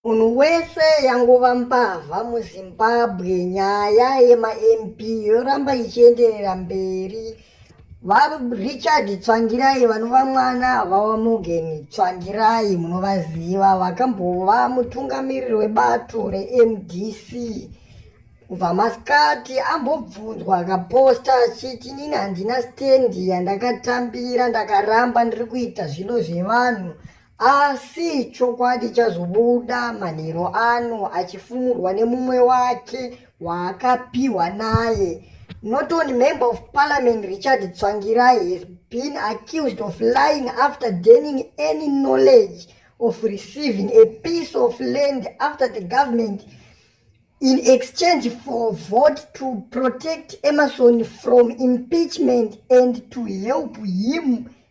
Munhu wese yangova mbavha muZimbabwe nyaya yemaMP yoramba ichienderera mberi. VaRichard Tsvangirai vanova mwana vaMorgan Tsvangirai munovaziva vakambova mutungamiriri webato reMDC kubva masikati ambobvunzwa akaposta achiti nini handina stendi yandakatambira ndakaramba ndiri kuita zvino zvevanhu Asi chokwadi chazobuda manheru ano achifumurwa nemumwe wake waakapiwa naye. Not only member of parliament Richard Tsvangirai has been accused of lying after gaining any knowledge of receiving a piece of land after the government in exchange for vote to protect Emerson from impeachment and to help him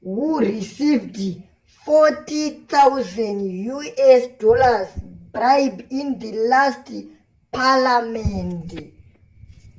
who received 40,000 US dollars bribe in the last parliament.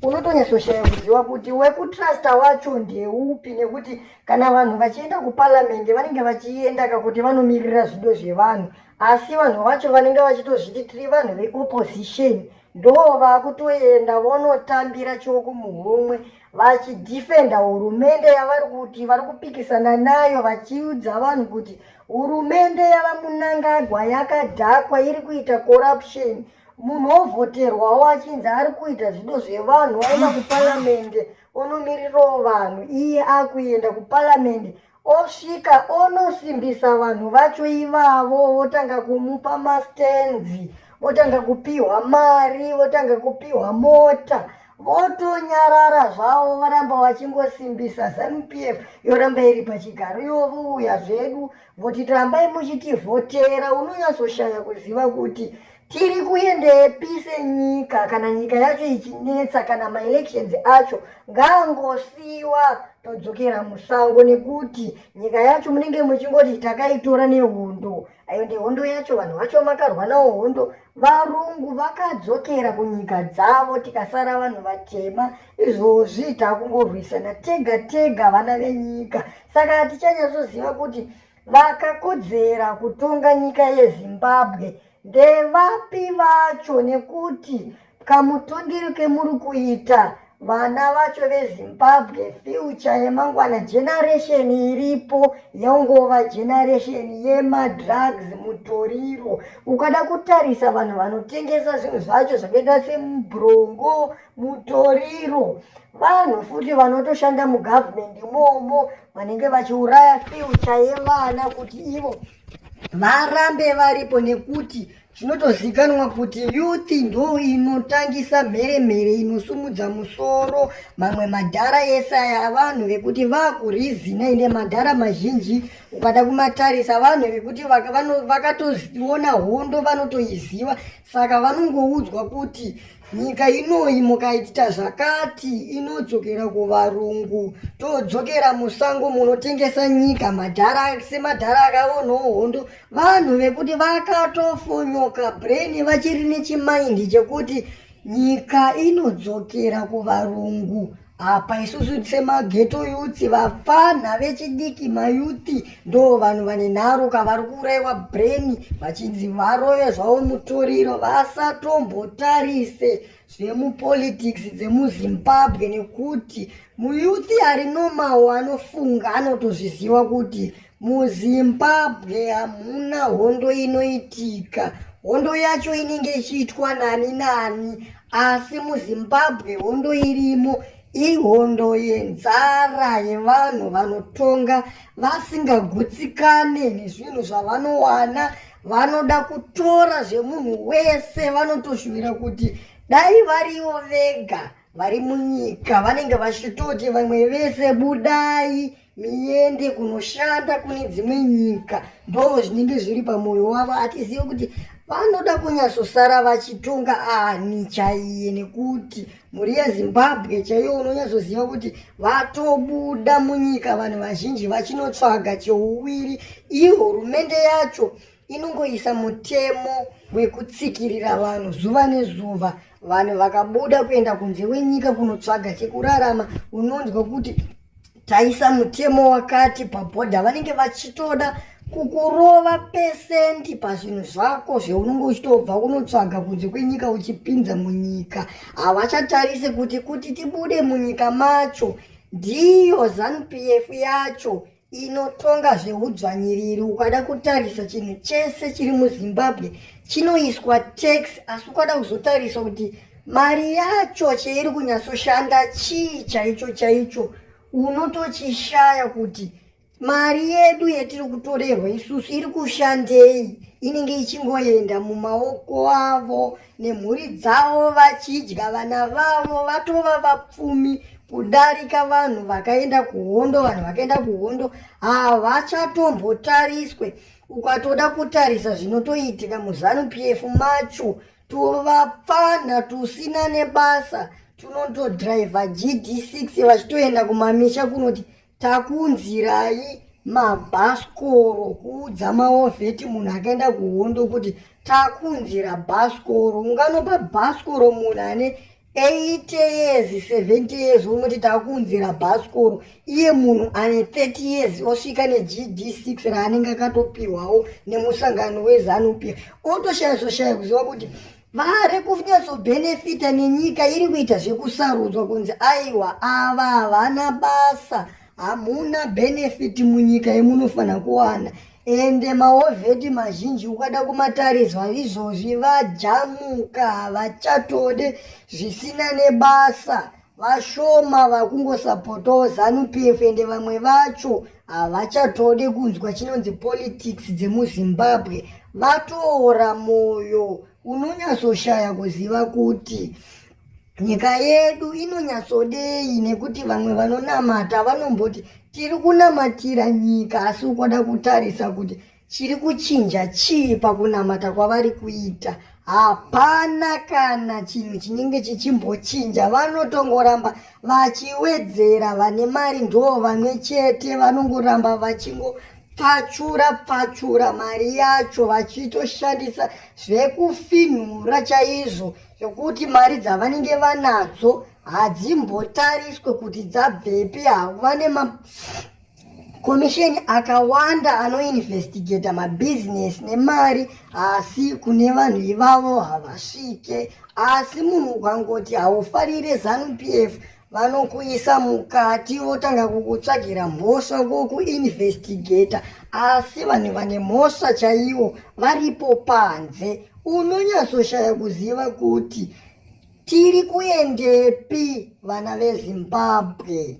Unotonyatsoshaya kuziva kuti wekutrusta wacho ndeupi nekuti kana vanhu vachienda kuparliament vanenge vachienda kakuti vanomirira zvido zvevanhu asi vanhu vacho vanenge vachitozviti tiri vanhu veopposition ndo vakutoenda vonotambira choko muhomwe vachidhifenda hurumende yavari kuti vari kupikisana nayo vachiudza vanhu kuti hurumende yavamunangagwa yakadhakwa iri kuita corruption munhu ovhoterwawo achinzi ari kuita zvido zvevanhu aenda kuparamende onomiririrawo vanhu iye akuenda kuparamende osvika onosimbisa vanhu vacho ivavo votanga kumupa mastenzi votanga kupihwa mari votanga kupihwa mota votonyarara zvavo varamba vachingosimbisa zanupf yoramba iri pachigaro ivo vouya zvedu voti rambai muchitivhotera unonyatsoshaya kuziva kuti Tiri kuendepi senyika kana nyika yacho ichinetsa kana maelections acho ngaangosiiwa todzokera musango nekuti nyika yacho munenge muchingoti takaitora nehondo ayo ndihondo yacho vanhu vacho makarwa nawo hondo varungu vakadzokera kunyika dzavo tikasara vanhu vatema izvozvi takungorwisana tega tega vana venyika saka hatichanyasoziva kuti Vakakodzera kutonga nyika yeZimbabwe ndevapi vacho nekuti kamutongero kemuri kuita vana vacho vezimbabwe future yemangwana generation iripo yongova generation yemadrugs mutoriro ukada kutarisa vanhu vanotengesa zvinhu zvacho zvakaita semubrongo mutoriro vanhu futi vanotoshanda mugovernment imomo vanenge vachiuraya fyucha yevana kuti ivo varambe varipo nekuti chinotozikanwa kuti youth ndo inotangisa mhere mhere inosumudza musoro mamwe madhara ese aya vanhu vekuti vakurizina ine madhara mazhinji ukada kumatarisa vanhu vekuti vakatoona hondo vanotoiziva saka vanongoudzwa kuti Nyika inoyi mukaita zvakati inodzokera kuvarungu. Todzokera musango munotengesa nyika madhara semadhara akaonawo hondo. Vanhu vekuti vakatofonyoka brain vachiri nechimaindi chekuti nyika inodzokera kuvarungu. apa isusu semageto yuti vapfanha vechidiki mayuti ndo vanhu vane nharo ka vari kuuraiwa breni vachinzi varove zvavo mutoriro vasatombotarise zvemupolitics dzemuzimbabwe nekuti muyuti ari nomawo anofunga anotozviziva kuti MuZimbabwe hamuna hondo inoitika. Hondo yacho inenge ichiitwa nani nani, asi muZimbabwe hondo irimo ihondo yenzara yevanhu vanotonga vasingagutsikane nezvinhu zvavanowana vanoda kutora zvemunhu wese vanotoshuvira kuti dai varivo vega vari munyika vanenge vachitoti vamwe vese budai miende kunoshanda kune dzimwe nyika ndo zvinenge zviri pamwoyo wavo atizivi kuti vanoda kunyatsosara vachitonga ani chaiye nekuti mhuri yezimbabwe chaiye unonyatsoziva kuti vatobuda munyika vanhu vazhinji vachinotsvaga cheuviri iyo hurumende yacho inongoisa mutemo wekutsikirira vanhu zuva nezuva vanhu vakabuda kuenda kunze wenyika kunotsvaga chekurarama unonzwa kuti taisa mutemo wakati pabhodha vanenge vachitoda kukurova pesenti pazvinhu zvako zveunenge uchitobva unotsvaga kunze kwenyika uchipinza munyika havachatarise kuti kuti tibude munyika macho ndiyo zanupf yacho inotonga zveudzvanyiriri ukada kutarisa chinhu chese chiri muzimbabwe chinoiswa tax asi ukada kuzotarisa kuti mari yacho cheiri kunyatsoshanda chii chaicho chaicho unotochishaya kuti mari yedu yetiri kutorerwa isusu iri kushandei inenge ichingoenda mumaoko avo nemhuri dzavo vachidya vana vavo vatova vapfumi kudarika vanhu vakaenda kuhondo vanhu vakaenda kuhondo havachatombotariswe ukatoda kutarisa zvinotoitika muzanu p f macho tuvapfana tusina nebasa tunotodriver gd6 vachitoenda kumamisha kunoti takunzirai mabhasikoro kuudza maovheti munhu akaenda kuhondo kuti takunzira bhasikoro unganopa bhasikoro munhu ane 8 years 70 years unoti takuunzira bhasikoro iye munhu ane 30 years osvika negd6 raanenge akatopiwawo nemusangano wezanup otoshaya zoshaya kuziva kuti vari kunyatsobhenefita nenyika iri kuita zvekusarudzwa kunzi aiwa ava havana basa hamuna benefit munyika yemunofanira kuwana ende maovheti mazhinji ukada kumatariswa izvozvi vajamuka havachatode zvisina nebasa vashoma vakungosapotawo zanupf ende vamwe vacho havachatode kunzwa chinonzi politics dzemuzimbabwe vatoora mwoyo unonyatsoshaya kuziva kuti Nyika yedu inonyatsodei nekuti vamwe vanonamata vanomboti tiri kunamatira nyika asi ukoda kutarisa kuti chiri kuchinja chii pakunamata kwavari kuita hapana kana chinhu chinenge chichimbochinja vanotongoramba vachiwedzera vane mari ndo vamwe chete vanongoramba vachingo pfachura pfachura mari yacho vachitoshandisa zvekufinhura chaizvo zvekuti mari dzavanenge vanadzo hadzimbotariswe kuti dzabvepi havane makomisheni akawanda anoinvestigata mabhizinesi nemari asi kune vanhu ivavo havasvike asi munhu ukangoti haufarire zanupf vanokuisa mukati votanga kukutsvagira mhosva vokuinvestigata asi vanhu vane mhosva chaiwo varipo panze unonyatsoshaya kuziva kuti tiri kuendepi vana vezimbabwe